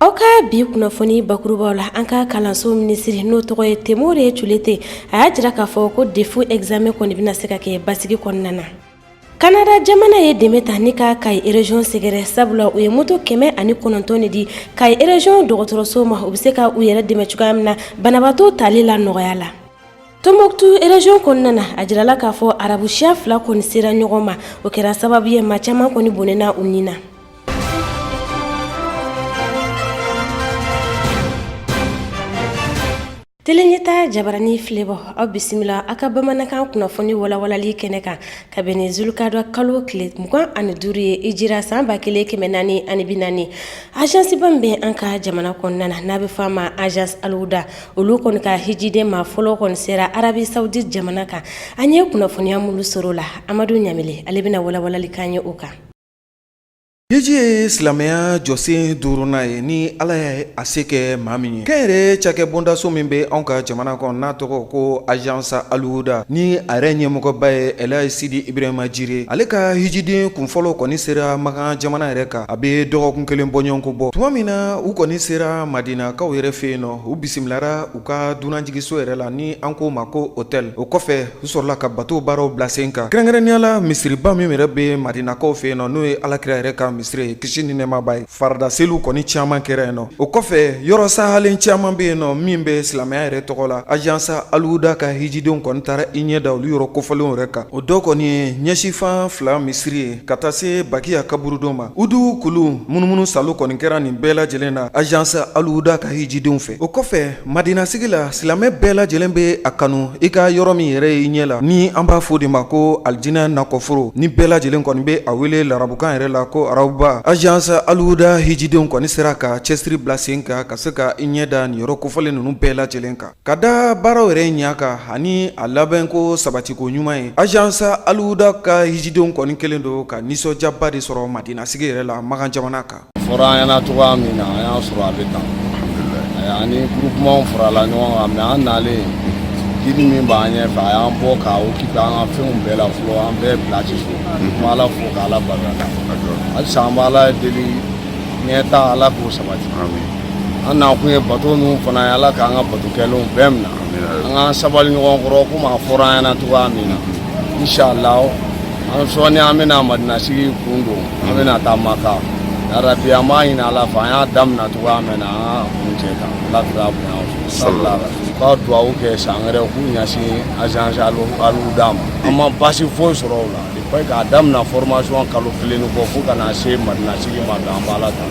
Aw ka bi kunnafoni bakurubaw la an ka kalanso minisiri n'o tɔgɔ ye temore tulenta a y'a jira k'a fɔ ko defu ɛgzamɛn kɔni bɛna se ka kɛ basigi kɔnɔna na kanada jamana ye dɛmɛ ta ni ka kayi rezyon sɛgɛrɛ sabula u ye moto kɛmɛ ani kɔnɔntɔn de di kayi rezyon dɔgɔtɔrɔso ma u bɛ se ka u yɛrɛ dɛmɛ cogoya min na banabaatɔ tali la nɔgɔya la Tombuktu rezyon kɔnɔna na a jirala k'a fɔ arabu siya fila kɔni sera ɲɔgɔn ma o kɛra sababu ye maa caman kɔni bɔnɛna u ni na tele ɲɛtaa jabaranin filɛbaaw aw bisimila aw ka bamanankan kunnafoni walawalali kɛnɛ kan ka bɛn ni zulukada kalo tile mugan ani duuru ye hijira san ba kelen kɛmɛ naani ani bi naani agence ba min bɛ an ka jamana kɔnɔna na n'a bɛ fɔ a ma agence alihuda olu kɔni ka hijiden maa fɔlɔ kɔni sera arabi sawudi jamana kan an ye kunnafoniya minnu sɔrɔ la amadu ɲamile ale bɛna walawalanli k'an ye o kan hiji ye silamɛya jɔsen duurunan ye ni ala ye a se kɛ maa min ye kɛnyɛrɛ cakɛ bondaso min bɛ anw ka jamana kɔnɔ n'a tɔgɔ ko agence alihuda ni a yɛrɛ ɲɛmɔgɔba ye elaji sidi ibrahima jire ale ka hijiden kunfɔlɔ kɔni sera makan jamana yɛrɛ kan a bɛ dɔgɔkun kelen bɔɲɔgɔnko bɔ tuma min na u kɔni sera madinakaw yɛrɛ fɛ yen nɔ u bisimilara u ka dunanjiginso yɛrɛ la ni an k'o ma ko hôtel o kɔfɛ u sɔrɔla ka bato baaraw bila sen kan kɛrɛnkɛrɛnnenya la misiriba min yɛrɛ bɛ madinakaw fɛ yen nɔ n'o ye alakira yɛrɛ ka misiri ye kisi ni nɛɛma b'a ye farida seliw kɔni caman kɛra yen nɔ o kɔfɛ yɔrɔ sahalen caman bɛ yen nɔ min bɛ silamɛya yɛrɛ tɔgɔ la agence alihuda ka hijidenw kɔni taara i ɲɛ da olu yɔrɔ kofɔlenw yɛrɛ kan o dɔ kɔni ye ɲɛsinfan fila misiri ye ka taa se bakiya kaburudon ma uhudu kulu munumunu saalo kɔni kɛra nin bɛɛ lajɛlen na agence alihuda ka hijidenw fɛ o kɔfɛ madinasigi la silamɛ bɛɛ lajɛlen bɛ a kanu i ka yɔrɔ min yɛrɛ ye i ɲɛ la ni an b'a fɔ o de ma ko alijinɛ nakɔforo ni bɛɛ lajɛlen kɔni bɛ a wele larabukan yɛrɛ la ko arawuda agence alihuda hijidenw kɔni sera ka cɛsiri bila sen kan ka se ka i ɲɛ da nin yɔrɔ kofɔlen ninnu bɛɛ lajɛlen kan Ka da baaraw yɛrɛ ɲɛ kan ani a labɛnko sabatiko ɲuman ye agence alihuda ka hijidenw kɔni kɛlen don ka nisɔndiyaba de sɔrɔ madinasigi yɛrɛ la makan jamana kan fɔra an ɲɛna cogoya min na an y'a sɔrɔ a bɛ tan ani groupement farala ɲɔgɔn kan mais an nalen gidi min b'an ɲɛfɛ a y'an bɔ k'a occupé an ka fɛnw bɛɛ la fɔlɔ an bɛɛ placé so n b' ala fo k' ala barika halisa an b' ala deli ɲɛtaa ala k'o sabati an na kun ye bato ninnu fana ye ala k'an ka bato kɛlenw bɛɛ minɛ an k'an sabali ɲɔgɔn kɔrɔ komi a fɔra an ɲɛna cogoya min na inshallah an sɔɔni an bɛna madinasigi kun don an bɛna taa maka yarabi an b'a ɲini ala fɛ an y'a daminɛ cogoya min na an ka kuncɛ kan ala kira bonya salila ka duwawu kɛ san wɛrɛ k'u ɲɛsin agence alihuda ma an ma baasi foyi sɔrɔ o la depuis k'a daminɛ formation kalo kelen ni kɔ fo ka na se madinasigi ma bi an b'a la tan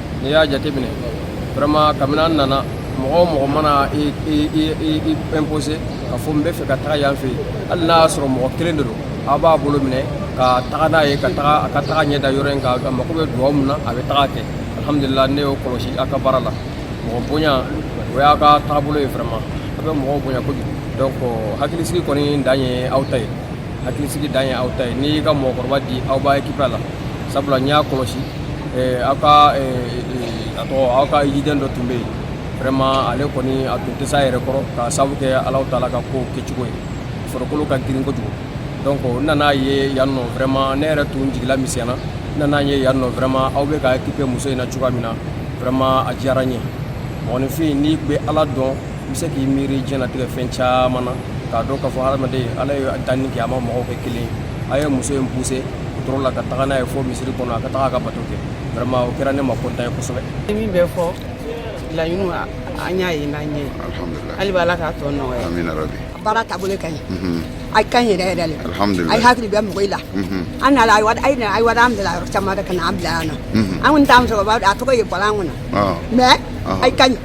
n'i y'a jateminɛ vraiment kabini an nana mɔgɔ o mɔgɔ mana i i i i i imposer ka fɔ n bɛ fɛ ka taga yan fɛ yen hali n'a y'a sɔrɔ mɔgɔ kelen de don aw b'a bolo minɛ ka taga n'a ye ka taga a ka taga ɲɛ da yɔrɔ in kan a mako bɛ dugawu min na a bɛ taga kɛ alhamdulilah ne y'o kɔlɔsi aw ka baara la mɔgɔ bonya o y'a ka taabolo ye vraiment aw bɛ mɔgɔw bonya kojugu donc hakilisigi kɔni dan ye aw ta ye hakilisigi dan ye aw ta ye n'i y'i ka mɔgɔkɔrɔba di aw b'occuper a la sabula n y'a kɔlɔsi eh, aw ka eh, eh, a tɔgɔ aw ka hijiden dɔ tun bɛ yen vraiment ale kɔni a tun tɛ s'a yɛrɛ kɔrɔ k'a sababu kɛ alahu taala ka kow kɛcogo ye farikolo ka girin kojugu donc n nan'a ye yan nɔ vraiment ne yɛrɛ tun jigila misɛnna n nan'a ye yan nɔ vraiment aw bɛ ka occuper muso in na cogoya min na vraiment a diyara n ye mɔgɔninfin n'i bɛ ala dɔn bɛ se k'i miiri diɲɛnatigɛ fɛn caman na k'a dɔn k'a fɔ hadamaden ala ye danni kɛ a ma mɔgɔw kɛ kelen ye a ye muso in poussé wotoro la ka taga n'a ye fo misiri kɔnɔ a ka taga a ka bato kɛ vraiment o kɛra ne ma content ye kosɛbɛ min bɛ fɔ laɲini an y'a ye n'an ɲɛ hali bi ala k'a tɔ nɔgɔya baara taabolo ka ɲi a ka ɲi yɛrɛ yɛrɛ le a ye hakili bɛ mɔgɔ i la an nana a ye wari an bila yɔrɔ caman de ka na an bila yan nɔ an kɔni t'an musokɔrɔba a tɔgɔ ye bɔla an kɔnɔ mais a ka ɲi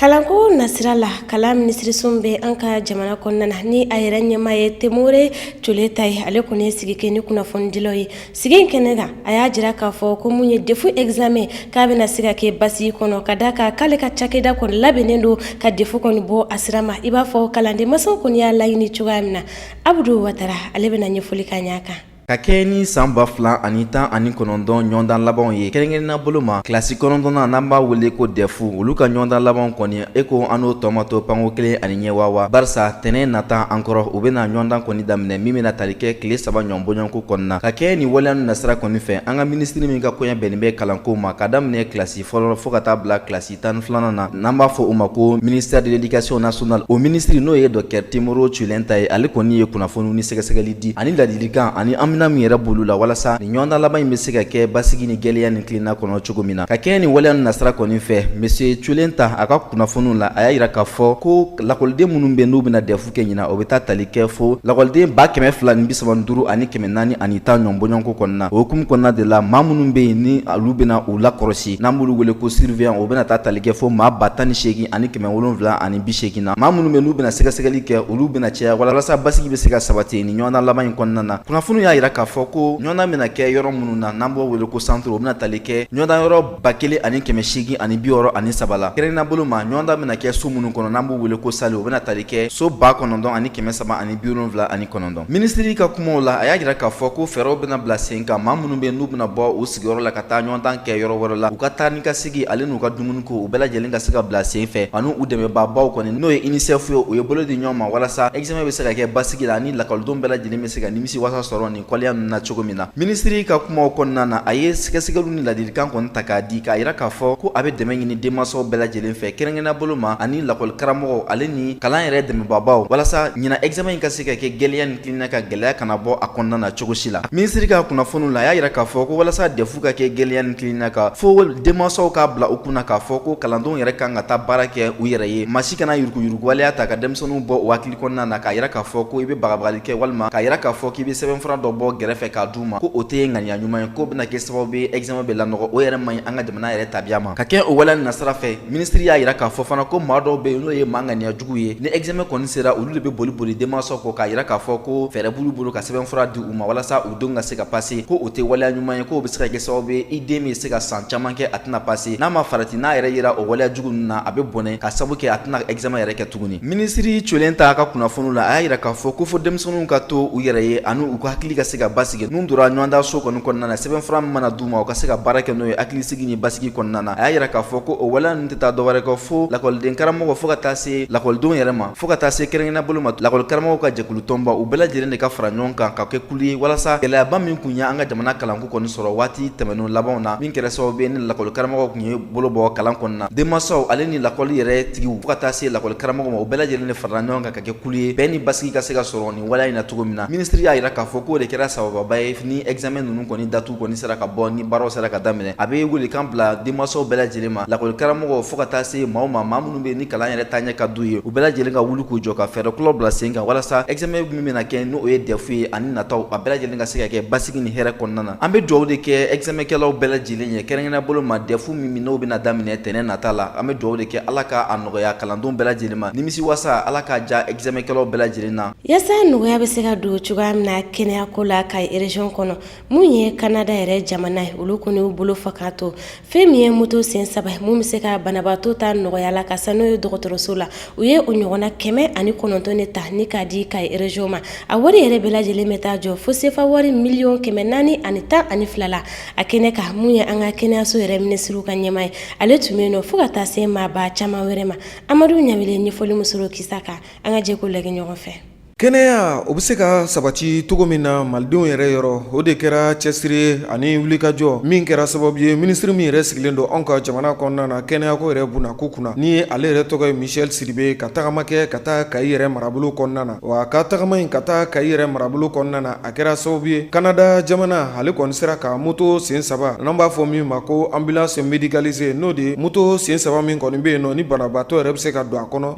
kalanko nasira la kalan minisiriso bɛ an ka jamana kɔnɔna na ni a yɛrɛ ɲɛmaa ye Temore Tioulenta ye ale kɔni ye sigi kɛ ni kunnafonidilaw ye sigi in kɛnɛ kan a y'a jira k'a fɔ ko mun ye dɛfu examen k'a bɛna se ka kɛ basigi kɔnɔ ka d'a kan k'ale ka cakɛda kɔni labɛnnen don ka dɛfu kɔni bɔ a sira ma i b'a fɔ kalanden masaw kɔni y'a laɲini cogoya min na abudu watara ale bɛna ɲɛfɔli k'a ɲɛ kan Ka kɛɲɛ ni san 2019 ɲɔgɔndan labanw ye kɛrɛnkɛrɛnnenya bolo ma, kilasi kɔnɔntɔnnan n'an b'a wele ko DEF olu ka ɲɔgɔndan labanw kɔni, e ko an n'o tɔ ma to panko kelen ani ɲɛ waa waa, barisa tɛnɛn nata an kɔrɔ, u bɛna ɲɔgɔndan kɔni daminɛ min bɛna tali kɛ tile saba ɲɔgɔn bɔɲɔgɔnko kɔnɔna. Ka kɛɲɛ ni waleya ninnu nasira kɔni fɛ, an ka minisiri min ka koɲɛ bɛnnen bɛ kalanko ma, ka daminɛ kilasi fɔlɔ fo ka taa bila kilasi tan filanan na n'an b'a fɔ o ma ko ministère de l'éducation nationale o minisiri n'o ye docteur Temore Tioulenta ye ale kɔni ye kunnafoni ni sɛgɛsɛgɛli di ani ladilikan ani an bɛna min yɛrɛ boloda walasa ni ɲɔgɔndan laban in bɛ se ka kɛ basigi ni gɛlenya ni tilenna kɔnɔ cogo min na ka kɛɲɛ ni waleya nin nasira kɔni fɛ monsieur Tioulenta a ka kunnafoniw la a y'a jira k'a fɔ ko lakɔliden minnu bɛ n'u bɛna dɛfu kɛ ɲinan o bɛ taa tali kɛ fo lakɔliden ba kɛmɛ fila ni bi saba ni duuru ani kɛmɛ naani ani tan ɲɔgɔn bɔɲɔgɔnko kɔnɔna o hukumu kɔnɔna de la maa minnu bɛ yen ni olu bɛna u lakɔlɔsi n'an b'olu wele ko surveillant o bɛna taa tali kɛ fo maa ba tan ni seegin ani kɛmɛ wolonwula ani bi seegin na maa minnu bɛ n'u bɛna sɛgɛsɛgɛli kɛ olu bɛna caya walasa basigi bɛ se ka sabati ni ɲɔgɔndan laban in kɔnɔna na kunnafoni y'a jira k'a fɔ ko ɲɔgɔndan bɛna kɛ yɔrɔ minnu na n'an b'o wele ko centre o bɛna tali kɛ ɲɔgɔndan yɔrɔ ba kelen ani kɛmɛ seegin ani bi wɔɔrɔ ani saba la kɛrɛnkɛrɛnnenya bolo ma ɲɔgɔndan bɛna kɛ so minnu kɔnɔ n'an b'u wele ko salle o bɛna tali kɛ so ba kɔnɔntɔn ani kɛmɛ saba ani biwolonwula ani kɔnɔntɔn minisiri ka kumaw la a y'a jira k'a fɔ ko fɛɛrɛw bɛna bila sen kan maa minnu bɛ n'u bɛna bɔ u sigiyɔrɔ la ka taa ɲɔgɔndan kɛ yɔrɔ wɛrɛ la u ka taa ni ka segin ale n'u ka dumuni ko u bɛɛ lajɛlen ka se ka bila sen fɛ ani u dɛmɛbaabaw kɔni n'o ye inisɛfu ye u ye bolo di ɲɔgɔn ma walasa examen bɛ se ka kɛ basigi la ani lakɔlidenw bɛɛ lajɛlen bɛ se ka nimisi wasa sɔrɔ nin kɔleya ninnu na cogo min na minisiri ka kumaw kɔnɔna na a ye sɛgɛsɛgɛli ni ladilikan kɔni ta k'a di k'a jira k'a fɔ ko a bɛ dɛmɛ ɲini denmansaw bɛɛ lajɛlen fɛ kɛrɛnkɛrɛnnenya bolo ma ani lakɔli karamɔgɔw ale ni kalan yɛrɛ dɛmɛbaabaw walasa ɲinan examen in ka se ka kɛ gɛlɛya ni tilennenya kan gɛlɛya kana bɔ a kɔnɔna na cogo si la minisiri ka kunnafoniw la a y'a jira k'a fɔ ko walasa dɛfu ka kɛ gɛlɛya ni tilennenya kan fo denmansaw k'a bila u kunna k'a fɔ ko kalandenw yɛrɛ kan ka taa baara kɛ u yɛrɛ ye maa si kana yuruguyuruguwaleya ta ka denmisɛnninw bɔ u hakili kɔnɔna na k'a jira k'a fɔ ko i bɛ bagabagali kɛ walima k'a jira k'a fɔ k'i bɛ sɛbɛnfura dɔ bɔ gɛrɛfɛ k'a d'u ma ko o tɛ ŋaniya ɲuman ye k'o bɛna kɛ sababu ye examen bɛ lanɔgɔ o yɛrɛ man ɲi an ka jamana yɛrɛ tabiya ma ka kɛ o waleya nin nasira fɛ minisiri y'a jira k'a fɔ fana ko maa dɔw bɛ yen n'o ye maa ŋaniya juguw ye ni examen kɔni sera olu de bɛ boli boli denmansaw kɔ k'a jira k'a fɔ ko fɛɛrɛ b'olu bolo ka sɛbɛnfura di u ma walasa u denw ka se ka pase ko o tɛ waleya ɲuman ye k'o bɛ se ka kɛ sababu ye i den bɛ se ka san caman kɛ a tɛna pase n'a ma farati n'a yɛrɛ yera o waleya jugu ninnu na a bɛ bɔnɛ k'a sabu kɛ a tɛna examen yɛrɛ kɛ tuguni minisiri colen ta ka kunnafoniw la a y'a jira k'a fɔ ko fo denmisɛnninw ka to u yɛrɛ ye ani u ka hakili ka se ka basigi n'u donna ɲɔgɔndan so kɔni kɔnɔna na sɛbɛnfura min mana d'u ma u ka se ka baara kɛ n'o ye hakilisigi ni basigi kɔnɔna na a y'a jira k'a fɔ ko o waleya ninnu tɛ taa dɔwɛrɛ kɔ fo lakɔliden karamɔgɔw fo ka taa se lakɔlidenw yɛrɛ ma fo ka taa se kɛrɛnkɛrɛnnenya bolo ma lakɔli karamɔgɔw ka jɛkulutɔnba u bɛɛ lajɛlen de ka fara ɲɔgɔn kan ka kɛ kulu ye walasa gɛlɛyaba min tun ye an ka jamana kalanko kɔni sɔrɔ waati tɛmɛnenw labanw na min kɛra sababu ye ni lakɔli karamɔgɔw tun ye bolo bɔ kalan kɔnɔna na denmansaw ale ni lakɔli yɛrɛ tigiw fo ka taa se lakɔli karamɔgɔ ma u bɛɛ lajɛlen de farala ɲɔgɔn kan ka kɛ kulu ye bɛɛ ni basigi ka se ka sɔrɔ nin waleya in na cogo min na minisiri y'a jira k'a fɔ k'o de kɛra sababuba ye ni examen ninnu kɔni datu kɔni sera ka bɔ ni baaraw sera ka daminɛ a bɛ welekan bila denmansaw bɛɛ lajɛlen ma lakɔli karamɔgɔ fo ka taa se maaw ma maa minnu bɛ ni kalan yɛrɛ taaɲɛ ka d'u ye u bɛɛ lajɛlen ka wuli k'u jɔ ka fɛɛrɛ kuraw bila sen kan walasa examen min bɛna kɛ n'o ye dɛfu ye ani nataw a bɛɛ lajɛlen ka se ka kɛ basigi ni hɛrɛ kɔnɔna na An bɛ dugawu de kɛ examenkɛlaw bɛɛ lajɛlen ye kɛrɛnkɛrɛnnenya bolo ma dɛfu min n'o bɛna daminɛ tɛnɛn nata la an bɛ dugawu de kɛ ala k'a nɔgɔya kalandenw bɛɛ lajɛlen ma nimisi wasa ala k'a ja examenkɛlaw bɛɛ lajɛlen na. Yasa nɔgɔya bɛ se ka don cogoya min na kɛnɛyako la kayi erezyon kɔnɔ min ye kanada yɛrɛ jamana ye olu kɔni y'u bolo fa ka to Fɛn min ye moto sen saba ye min bɛ se ka banabaatɔ ta nɔgɔya la ka se n'o ye dɔgɔtɔrɔso la u ye o ɲɔgɔnna kɛmɛ ani kɔnɔntɔn de ta ni k'a di kayi erezyon ma a wari yɛrɛ bɛɛ lajɛlen bɛ taa jɔ fo sefa wari miliyɔn kɛmɛ naani ani tan ani fila la a kɛnɛ kan min ye an ka kɛnɛyaso yɛrɛ minisiri ka ɲɛmaa ye ale tun bɛ yen nɔ fo ka taa se maaba caman wɛrɛ ma amadu ɲamile ɲɛfɔli musoro kisa kan an ka jɛ k'o lajɛ ɲɔgɔn fɛ Kɛnɛya o bɛ se ka sabati cogo min na malidenw yɛrɛ yɔrɔ o de kɛra cɛsiri ani wulikajɔ min kɛra sababu ye minisiri min yɛrɛ sigilen don anw ka jamana kɔnɔna na kɛnɛyako yɛrɛ bunako kunna ni ale yɛrɛ tɔgɔ ye michel sidibe ka tagama kɛ ka taa kayi yɛrɛ marabolo kɔnɔna na wa ka tagama in ka taa kayi yɛrɛ marabolo kɔnɔna na a kɛra sababu ye kanada jamana ale kɔni sera ka moto sen saba n'an b'a fɔ min ma ko ambulance médicalisée n'o de ye moto sen saba min kɔni bɛ yen nɔ ni banabaatɔ yɛrɛ bɛ se ka don a kɔnɔ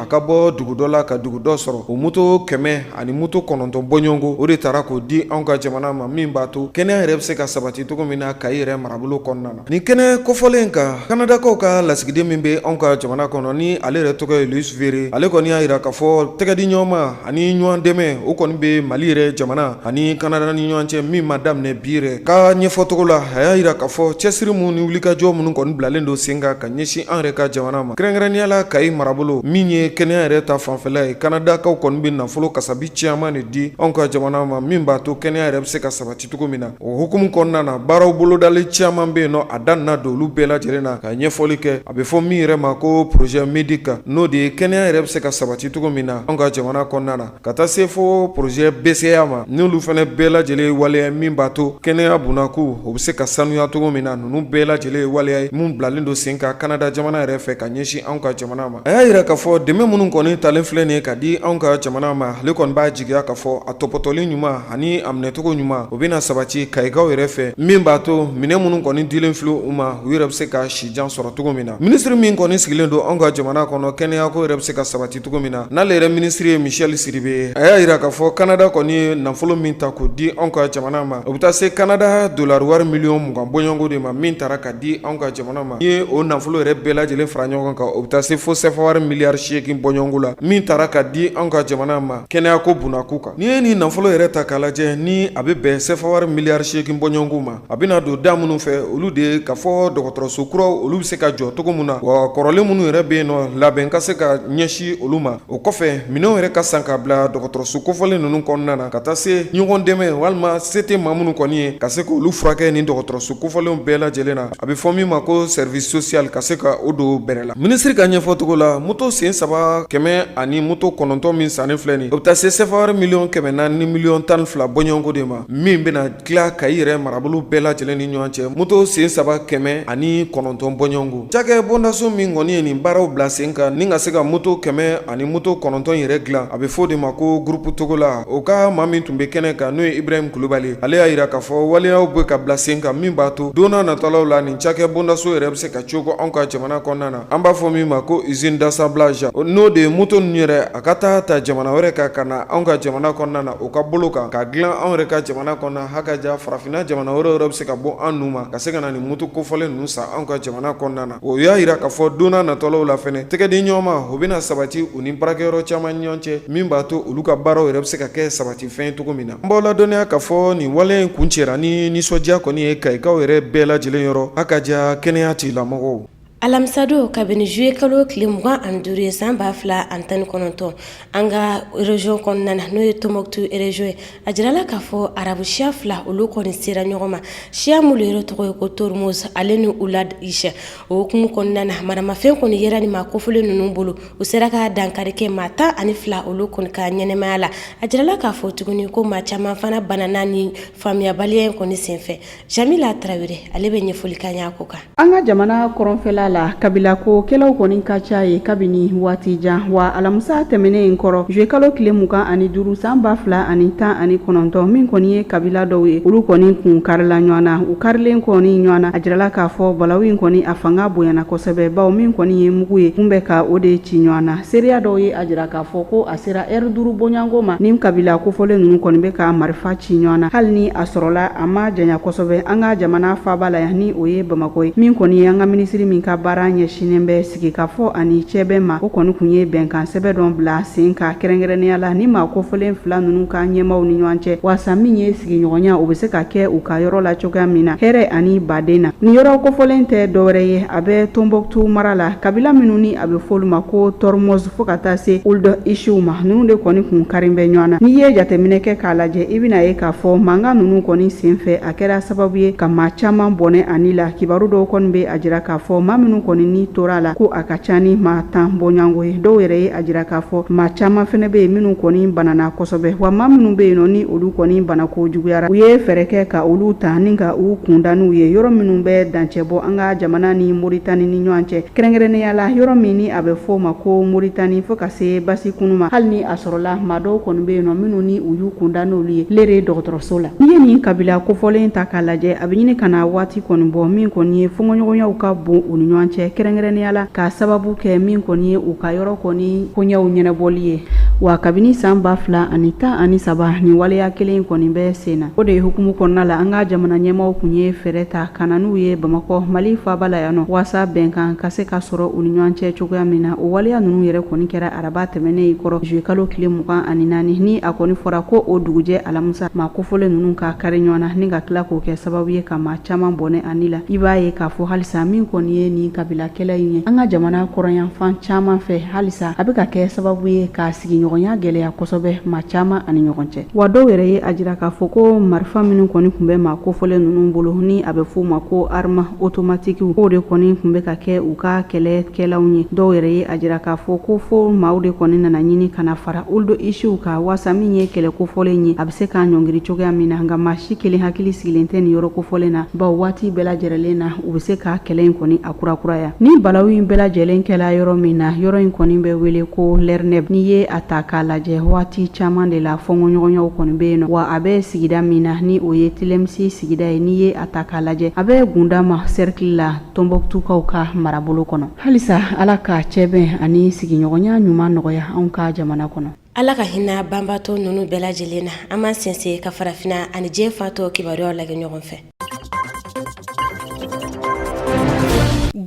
a ka bɔ dugu dɔ la ka dugu dɔ sɔrɔ o moto kɛmɛ ani moto kɔnɔntɔn bɔɲɔgɔnko o de taara k'o di anw ka jamana ma min b'a to kɛnɛya yɛrɛ bɛ se ka sabati cogo min na kayi yɛrɛ marabolo kɔnɔna na nin kɛnɛ kofɔlen kan kanadakaw ka lasigiden min bɛ anw ka jamana kɔnɔ ni ale yɛrɛ tɔgɔ ye louis verret ale kɔni y'a jira k'a fɔ tɛgɛdi ɲɔgɔnma ani ɲɔgɔn dɛmɛ o kɔni bɛ mali yɛrɛ jamana ani kanada ni ɲɔgɔn cɛ min ma daminɛ bi yɛrɛ ka ɲɛfɔcogo la a y'a jira k'a fɔ cɛsiri minnu ni wulikajɔ minnu kɔni bilalen don sen kan ɲɛsin an yɛrɛ ka jamana ma kɛrɛnkɛrɛnnenya la kayi marabolo min ye kɛnɛya yɛrɛ ta fanfɛla ye kanadakaw kɔni bɛ nafolo kasabi caman de di anw ka jamana ma min b'a to kɛnɛya yɛrɛ bɛ se ka sabati cogo min na o hukumu kɔnɔna na baaraw bolodali caman bɛ yen nɔ a dan don olu bɛɛ lajɛlen na ka ɲɛfɔli kɛ a bɛ fɔ min yɛrɛ ma ko poroze medika n'o de ye kɛnɛya yɛrɛ bɛ se ka sabati cogo min na anw ka jamana kɔnɔna na Ka taa se fo poroze bɛsɛya ma n'olu fana bɛɛ lajɛlen ye waleya ye min b'a to kɛnɛya bunako o bɛ se ka sanuya cogo min na ninnu bɛɛ lajɛlen ye waleya ye minnu bilalen don sen kan kanada jamana yɛrɛ fɛ ka ɲɛsin anw ka jamana ma a y'a jira k'a fɔ dɛmɛ minnu kɔni talen filɛ nin ye ka di anw ka jamana ma ale kɔni b'a jigiya k'a fɔ a tɔpɔtɔli ɲuman ani a minɛcogo ɲuman o bɛna sabati kayikaw yɛrɛ fɛ min b'a to minɛn minnu kɔni dilen filɛ u ma u yɛrɛ bɛ se ka sijan sɔrɔ cogo min na minisiri min kɔni sigilen don anw ka jamana kɔnɔ kɛnɛyako yɛrɛ bɛ se ka sabati cogo min na n'ale yɛrɛ minisiri ye michel sidibe a y'a yira k'a fɔ kanada kɔni ye nafolo min ta k'o di anw ka jamana ma o bɛ taa se kanada dolari wari miliyɔn mugan bɔɲɔgɔnko de ma min taara ka di anw ka jamana ma n'i ye o nafolo yɛrɛ bɛɛ lajɛlen fara ɲɔgɔn kan o bɛ taa se fo sɛfawari miliyari seegin bɔɲɔgɔnko la min taara ka di anw ka jamana ma kɛnɛyako bunako kan n'i ye nin nafolo yɛrɛ ta k'a lajɛ ni a bɛ bɛn sɛfawari miliyari seegin bɔɲɔgɔnko ma a bɛna don da minnu fɛ olu de ye k'a fɔ dɔgɔtɔrɔso kuraw olu bɛ se ka jɔ cogo min na wa kɔrɔlen minnu yɛrɛ bɛ yen nɔ labɛn ka se ka ɲɛsin olu ma o kɔfɛ minɛnw yɛrɛ ka san ka bila dɔgɔtɔrɔso kofɔlen ninnu kɔnɔna na ka taa se ɲɔgɔn dɛmɛ walima se tɛ maa minnu kɔni ye ka se k'olu furakɛ ni dɔgɔtɔrɔso kofɔlenw bɛɛ lajɛlen na a bɛ fɔ min ma ko service social ka se ka o don bɛrɛ la minisiri ka ɲɛfɔcogo la moto sen saba kɛmɛ ani moto kɔnɔntɔn min sannen filɛ nin o bɛ taa se sɛfawari miliyɔn kɛmɛ naani ni miliyɔn tan ni fila bɔɲɔgɔnko de ma min bɛna tila kayi yɛrɛ marabolo bɛɛ lajɛlen ni ɲɔgɔn cɛ moto sen saba kɛmɛ ani kɔnɔntɔn bɔɲɔgɔnko cakɛ bondaso min kɔni ye nin baaraw bila sen kan ni ka se ka moto kɛmɛ ani moto kɔnɔntɔn yɛrɛ dilan a bɛ fɔ de ma ko groupe toguna o ka maa min tun bɛ kɛnɛ kan n'o ye ibrahimu kulubali ale y'a jira k'a fɔ waleyaw bɛ ka bila sen kan min b'a to donna natɔlaw la nin cakɛ bondaso yɛrɛ bɛ se ka cogo anw ka jamana kɔnɔna na an b'a fɔ min ma ko usine d'assemblage n'o de ye moto ninnu yɛrɛ a ka taa ta jamana wɛrɛ kan ka na anw ka jamana kɔnɔna na o ka bolo kan ka dilan anw yɛrɛ ka jamana kɔnɔna hakaja farafinna jamana wɛrɛ yɛrɛ bɛ se ka bɔ an nu ma ka se ka na nin moto kofɔlen ninnu san anw ka jamana kɔnɔna na o y'a jira k'a fɔ donna natɔlaw la fɛnɛ tɛgɛdiɲɔgɔnma o bɛna sabati u ni baarakɛyɔrɔ caman ɲɔgɔn cɛ min b'a to olu ka baaraw yɛrɛ bɛ se ka kɛ sabati fɛn cogo min na an b'aw ladɔnniya k'a fɔ nin wale in kun cɛra ni nisɔndiya kɔni ye Kayikaw yɛrɛ bɛɛ lajɛlen yɔrɔ hakaja kɛnɛya tigila mɔgɔw Alamisadon ka bɛn ni zuye kalo tile mugan ani duuru ye san ba fila ani tan kɔnɔntɔn an ka rejiyɔn kɔnɔna na n'o ye Tonbuktu rejiyɔn ye a jirala k'a fɔ arabu siya fila olu kɔni sera ɲɔgɔn ma siya minnu de yɛrɛ tɔgɔ ye ko Tormuz ale ni Oulad Isha o hukumu kɔnɔna na maramafɛn kɔni yera ni maa kofɔlen ninnu bolo u sera ka dankari kɛ maa tan ani fila olu kɔni ka ɲɛnɛmaya la a jirala k'a fɔ tuguni ko maa caman fana banana ni faamuyabaliya in kɔni senfɛ Jamila Tarawele ale bɛ ɲɛfɔli k'an ye a ko kan. An ka jamana kɔrɔnfɛla la, kabilako kɛlɛw kɔni ka ca yen kabini waati jan, wa alamisa tɛmɛnen in kɔrɔ, zuye kalo tile mugan ani duuru san ba fila ani tan ani kɔnɔntɔn, min kɔni ye kabila dɔw ye, olu kɔni kun karila ɲɔgɔn na. U karilen kɔni ɲɔgɔn na, a jirala k'a fɔ balawu in kɔni a fanga bonyana kosɛbɛ, bawo min kɔni ye mugu ye, kun bɛ ka o de ci ɲɔgɔn na. Seereya dɔw ye a jira k'a fɔ ko a sera ɛri duuru bɔɲɔgɔnko ma ni kabila kofɔlen ninnu kɔni bɛ ka marifa ci ɲɔgɔn na hali ni a sɔrɔla a ma janya kosɛbɛ an ka jamana faaba la yan ni o ye bamakɔ ye min kɔni ye an ka minisiri min ka baara ɲɛsinnen bɛ sigikafɔ ani cɛbɛn ma o kɔni kun ye bɛnkansɛbɛn dɔ bila sen kan kɛrɛnkɛrɛnnenya la ni maa kofɔlen fila ninnu ka ɲɛmaaw ni ɲɔgɔn cɛ waasa min ye sigiɲɔgɔnya o bɛ se ka kɛ u ka yɔrɔ la cogoya min na hɛrɛ ani baden na nin yɔrɔ kofɔlen tɛ dɔwɛrɛ ye a bɛ Tonbuktu mara la kabila minnu ni a bɛ fɔ olu ma ko Tormuz fo ka taa se Ould Ishiw ma ninnu de kɔni kun karin bɛ ɲɔgɔn na n'i ye jateminɛ kɛ k'a lajɛ i bɛn'a ye k'a fɔ mankan ninnu kɔni senfɛ a kɛra sababu ye ka maa caman bɔnɛ a ni la kibaru dɔw kɔni bɛ a jira k'a fɔ maa minnu kɔni ni tora a la ko a ka ca ni maa tan bɔɲɔgɔnko ye dɔw yɛrɛ ye a jira k'a fɔ maa caman fɛnɛ bɛ yen minnu kɔni banana kosɛbɛ wa maa minnu bɛ yen nɔ ni olu kɔni banako juguyara u ye fɛɛrɛ kɛ ka olu ta ni ka u kunda n'u ye yɔrɔ minnu bɛ dancɛ bɔ an ka jamana ni moritani ni ɲɔgɔn cɛ Kɛrɛnkɛrɛnnenya la yɔrɔ min ni a bɛ fɔ o ma ko Moritani fo ka se Basikunu ma, hali ni a sɔrɔla maa dɔw kɔni bɛ yen nɔ minnu ni u y'u kunda n'olu ye Lere dɔgɔtɔrɔso la. N'i ye nin kabila kofɔlen ta k'a lajɛ, a bɛ ɲini ka na waati kɔni bɔ min kɔni ye fɔnkɔɲɔgɔnyaw ka bon u ni ɲɔgɔn cɛ, kɛrɛnkɛrɛnnenya la k'a sababu kɛ min kɔni ye u ka yɔrɔ kɔni koɲɛw ɲɛnabɔli ye. Wa kabini san ba fila ani tan ani saba nin waleya kelen in kɔni bɛ sen na. O de hukumu kɔnɔna la an ka jamana ɲɛmaaw kun ye fɛɛrɛ ta, ka na n'u ye bamakɔ mali faaba la yan nɔ waasa bɛnkan ka se ka sɔrɔ u ni ɲɔgɔn cɛ cogoya min na o waleya ninnu yɛrɛ kɔni kɛra araba tɛmɛnen in kɔrɔ zuyekalo tile mugan ani naani ni a kɔni fɔra ko o dugujɛ alamusa maa kofɔlen ninnu ka kari ɲɔgɔn na ni ka tila k'o kɛ sababu ye ka maa caman bɔnɛ a ni la i b'a ye k'a fɔ halisa min kɔni ye nin kabilakɛlɛ in ye an ka jamana kɔrɔnyanfan caman fɛ halisa a bɛ ka kɛ sababu ye ka sigiɲɔgɔnya gɛlɛya kosɛbɛ maa caman ani ɲɔgɔn cɛ Wa dɔw yɛrɛ ye a jira k'a fɔ ko marifa minnu kɔni tun bɛ maa kofɔlen ninnu bolo ni a bɛ f'o ma ko arimu otomatikiw o de kɔni tun bɛ ka kɛ u ka kɛlɛkɛlanw ye dɔw yɛrɛ ye a jira k'a fɔ ko fo maaw de kɔni nana ɲini ka na fara olu don isiw ka waasa min ye kɛlɛ kofɔlen ye a bɛ se ka ɲɔngiri cogoya min na nka maa si kelen hakili sigilen tɛ nin yɔrɔ kofɔlen na bawo waati bɛɛ lajɛlen na u bɛ se ka kɛlɛ in kɔni kurakuraya ni balawu in bɛɛ lajɛlen kɛla yɔrɔ min na yɔrɔ in kɔni bɛ wele ko lerneb n'i ye a ta k'a lajɛ waati caman de la fɔɲɔgɔnyaw kɔni bɛ yen nɔ wa a bɛ sigida min na ni o ye tilemsi sigida ye n'i ye a ta k'a lajɛ a bɛ gundam sɛrikili la tɔnbukutukaw ka marabolo kɔnɔ halisa ala ka cɛbɛn ani sigiɲɔgɔnya ɲuman nɔgɔya anw ka jamana kɔnɔ Ala ka hinɛ banbaatɔ ninnu bɛɛ lajɛlen na an b'an sɛnsɛn ka farafinna ani diɲɛ fan tɔ kibaruyaw lajɛ ɲɔgɔn fɛ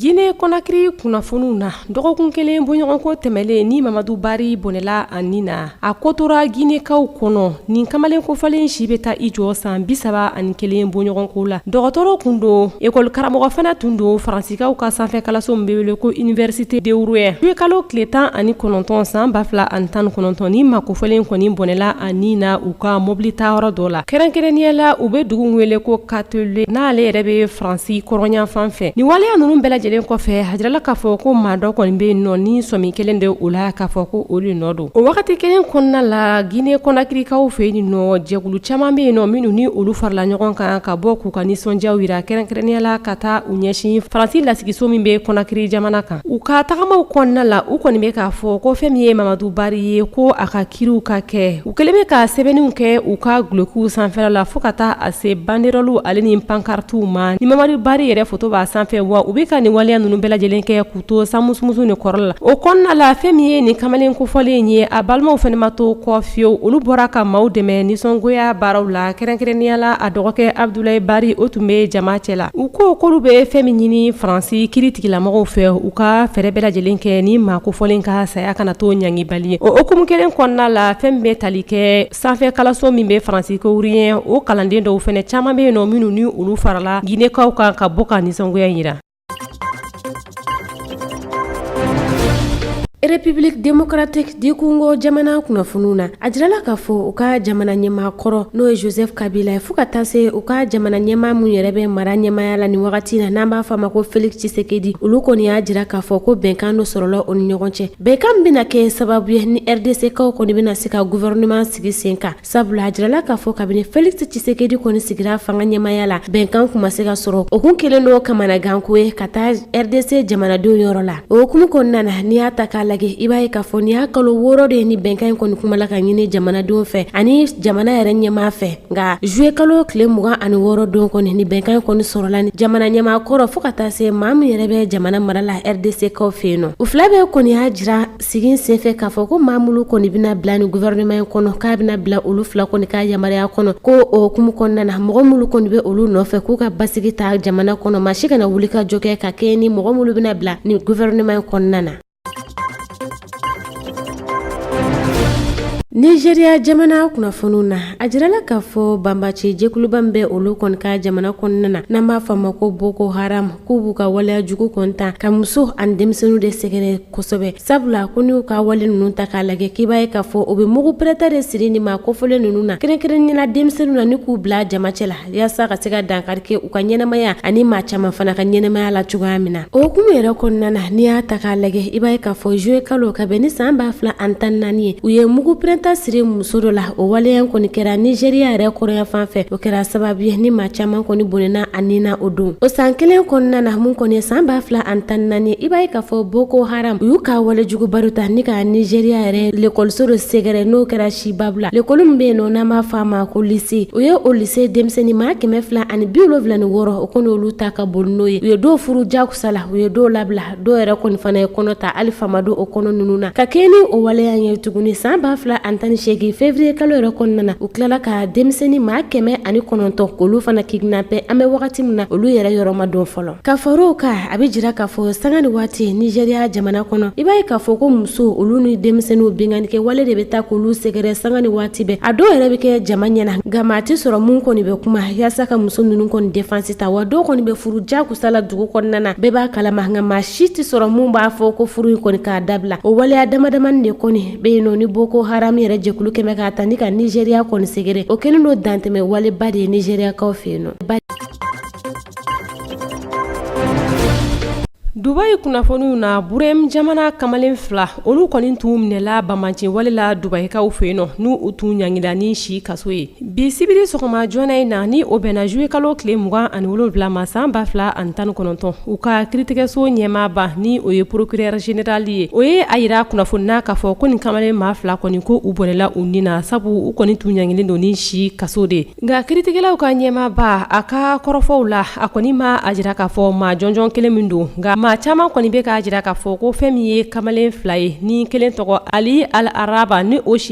gine konakiri kunnafoniw na dɔgɔkun kelen bɔɲɔgɔnko tɛmɛnlen ni mamadu bari bɔnɛla a ni na a ko tora ginekaw kɔnɔ nin kamalen kofɔlen si bɛ taa i jɔ san bi saba ani kelen bɔɲɔgɔnko la dɔgɔtɔrɔ tun don ekɔlikaramɔgɔ fana tun don faransi Sikaw ka sanfɛkalanso bɛ wele ko Université de Rouen juillet kalo tile 19 san 2019 ni maa kofɔlen kɔni bɔnɛla a ni na u ka mɔbili tayɔrɔ dɔ la kɛrɛnkɛrɛnnenya la u bɛ dugu min wele ko Canteleu n'ale yɛrɛ bɛ Faransi kɔrɔnyanfan fɛ nin waleya ninnu bɛɛ lajɛlen kɔfɛ a jirala k'a fɔ ko maa dɔ kɔni bɛ yen nɔ ni sɔmi kɛlen don o la k'a fɔ ko o de nɔ don O wagati kelen kɔnɔna la Guinée Conakrykaw fɛ yen nɔ jɛkulu caman be yen nɔ minnu ni olu farala ɲɔgɔn kan ka bɔ k'u ka nisɔndiyaw yira kɛrɛnkɛrɛnnenya la ka taa u ɲɛsin Faransi lasigiso min be Conakry jamana kan u ka tagamaw kɔnɔna la u kɔni be k'a fɔ ko fɛn min ye Mamadou Barry ye ko a ka kiriw ka kɛ u kɛlen be ka sɛbɛnniw kɛ u ka gulokiw sanfɛla la fo ka taa a se banderɔluw ale ni pancartew ma ni Mamadou Barry yɛrɛ foto b'a sanfɛ wa u be ka nin waleya ninnu bɛɛ lajɛlen kɛ to sanmusumusunin kɔrɔ la o kɔnɔna la fɛn min ye nin kamalen kofɔlen ye a balimaw fɛnɛ ma to kɔ fiyewu olu bɔra ka maaw dɛmɛ nisɔngoya baaraw la kɛrɛnkɛrɛnnenya la a dɔgɔkɛ Abudulayi Bari o tun bɛ jama cɛla u ko k'olu bɛ fɛn min ɲini Faransi kiritigɛlamɔgɔw fɛ u ka fɛɛrɛ bɛɛ lajɛlen kɛ ni maa kofɔlen ka saya kana to ɲangibali ye o hukumu kelen kɔnɔna la fɛn min bɛ tali kɛ sanfɛ kalanso min bɛ Faransi ko Rouen o kalanden dɔw fɛnɛ caman bɛ yen nɔ minnu ni olu farala Ginekaw kan ka bɔ ka nisɔngoya jira République démocratique du congo jamana kunnafoniw na a jirala k'a fɔ u ka jamana ɲɛmaa kɔrɔ n'o ye joseph kabila ye fo ka taa se u ka jamana ɲɛmaa min yɛrɛ bɛ mara ɲɛmaya la ni wagati na n'an b'a fɔ a ma ko félix tshisekedi olu kɔni y'a jira k'a fɔ ko bɛnkan dɔ sɔrɔla o ni ɲɔgɔn cɛ bɛnkan bɛna kɛ sababu ye ni rdckaw kɔni bɛna se ka gouvernement sigi sen kan Sabula a jirala k'a fɔ kabini félix tshisekedi kɔni sigira fanga ɲɛmaaya la bɛnkan kun ma se ka sɔrɔ o kun kɛlen don kamanaganko ye ka taa rdc jamanadenw yɔrɔ la o hukumu kɔnɔna na n'i y'a ta k'a lajɛ i b'a ye k'a fɔ ni y'a kalo wɔɔrɔ de ye ni bɛnkan in kɔni kuma la ka ɲini jamanadenw fɛ ani jamana yɛrɛ ɲɛmaa fɛ nka zuye kalo tile mugan ani wɔɔrɔ don kɔni ni bɛnkan in kɔni sɔrɔla ni jamana ɲɛmaa kɔrɔ fo ka taa se maa min yɛrɛ bɛ jamana mara la rdckaw fɛ yen nɔ u fila bɛɛ kɔni y'a jira sigi senfɛ k'a fɔ ko maa minnu kɔni bɛna bila ni gouvernement in kɔnɔ k'a bɛna bila olu fila kɔni ka yamaruya kɔnɔ ko o hukumu kɔnɔna na mɔgɔ minnu kɔni bɛ olu nɔfɛ k'u ka basigi ta jamana kɔnɔ maa si kana wuli ka jɔ kɛ ka kɛɲɛ ni mɔgɔ minnu bɛna bila nin gouvernement in kɔnɔna na nizeriya jamana kunnafoniw na a jirala k'a fɔ banbaanci jɛkuluba min bɛ olu kɔni ka jamana kɔnɔna na n'an b'a fɔ a ma ko boko haram k'u b'u ka waleya jugu kɔni ta ka muso ani denmisɛnninw de sɛgɛrɛ kosɛbɛ sabula ko n'u ka wale ninnu ta k'a lajɛ k'i b'a ye k'a fɔ o bɛ mugu pɛrɛnta de siri nin maa kofɔlen ninnu na kɛrɛnkɛrɛnya na denmisɛnninw na ni k'u bila jama cɛ la yaasa ka se ka dankari kɛ u ka ɲɛnamaya ani maa caman fana ka ɲɛnamaya la cogoya min na o hukumu yɛrɛ kɔnɔna na n'i y'a ta k'a lajɛ i b'a ye k'a fɔ zuwɛn kalo ka bɛn ni san ba fila ani tan ni naani ye u ye mugu pɛrɛnta siri muso dɔ la o waleya kɔni kɛra nizeriya yɛrɛ kɔrɔnyanfan fɛ o kɛra sababu ye ni maa caman kɔni bɔnɛna a ni na o don o san kelen kɔnɔna na min kɔni ye san ba fila ani tan ni naani ye i b'a ye k'a fɔ boko haram u y'u ka walejuguba dɔ ta ni ka nizeriya yɛrɛ lekɔliso dɔ sɛgɛrɛ n'o kɛra chibok la lekɔli min bɛ yen nɔ n'an b'a fɔ a ma ko lise u ye o lise denmisɛnnin maa kɛmɛ fila ani biwolonwula ni wɔɔrɔ o kɔni olu ta ka boli n'o ye u ye dɔw furu jakusa la u ye dɔw labila dɔw yɛrɛ kɔni fana ye kɔnɔ ta hali fa ma dɔn o kɔnɔ ninnu na ka kɛɲɛ ni o waleya ye tuguni san ba fila ani tan ni segin feburuye kalo yɛrɛ kɔnɔna na u tilala ka denmisɛnnin maa kɛmɛ ani kɔnɔntɔn k'olu fana kidnappé an bɛ wagati min na olu yɛrɛ yɔrɔ ma dɔn fɔlɔ ka far'o kan a bɛ jira k'a fɔ sanga ni waati nizeriya jamana kɔnɔ i b'a ye k'a fɔ ko muso olu ni denmisɛnninw binkannikɛ wale de bɛ taa k'olu sɛgɛrɛ sanga ni waati bɛɛ a dɔw yɛrɛ bɛ kɛ jama ɲɛ na nka maa tɛ sɔrɔ min kɔni bɛ kuma yaasa ka muso ninnu kɔni défense ta wa dɔw kɔni bɛ furu ja kusa la dugu kɔnɔna na bɛɛ b'a kalama nka maa si tɛ sɔrɔ min b'a fɔ ko furu in kɔni k'a dabila o waleya damadamanin de kɔni bɛ yen nɔ ni boko haram yɛrɛ jɛkulu kɛmɛ k'a ta ni ka nizeriya kɔni sɛgɛrɛ o kɛlen don dantɛmɛ waleba de ye nizeriyakaw fɛ yen nɔ dubayi kunnafoniw na bahreïn jamana kamalen fila olu kɔni tun minɛla banbaanci wale la dubayikaw fɛ yen nɔ n'u u tun ɲangila ni si kaso ye Bi sibiri sɔgɔma joona in na ni o bɛnna juillet kalo tile 27 ma san 2019, u ka kiritigɛso ɲɛmaaba ni o ye procureur general ye, o ye a yira kunnafoni na k'a fɔ ko nin kamalen maa fila kɔni ko u bɔnɛla u ni na, sabu u kɔni tun ɲangilen don ni si kaso de ye, nka kiritigɛlaw ka ɲɛmaaba, a ka kɔrɔfɔw la, a kɔni ma a jira k'a fɔ maa jɔnjɔn kelen min don, nka maa caman kɔni bɛ k'a jira k'a fɔ ko fɛn min ye kamalen fila ye, ni kelen tɔgɔ Ali Al-araba ni o si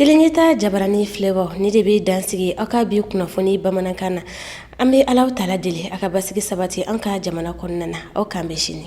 Tele Ɲɛta jabaranin filɛbaaw nin de bɛ dansigi aw ka bi kunnafoni bamanankan na an bɛ Ala taala deli a ka basigi sabati an ka jamana kɔnɔna na aw k'an bɛn sini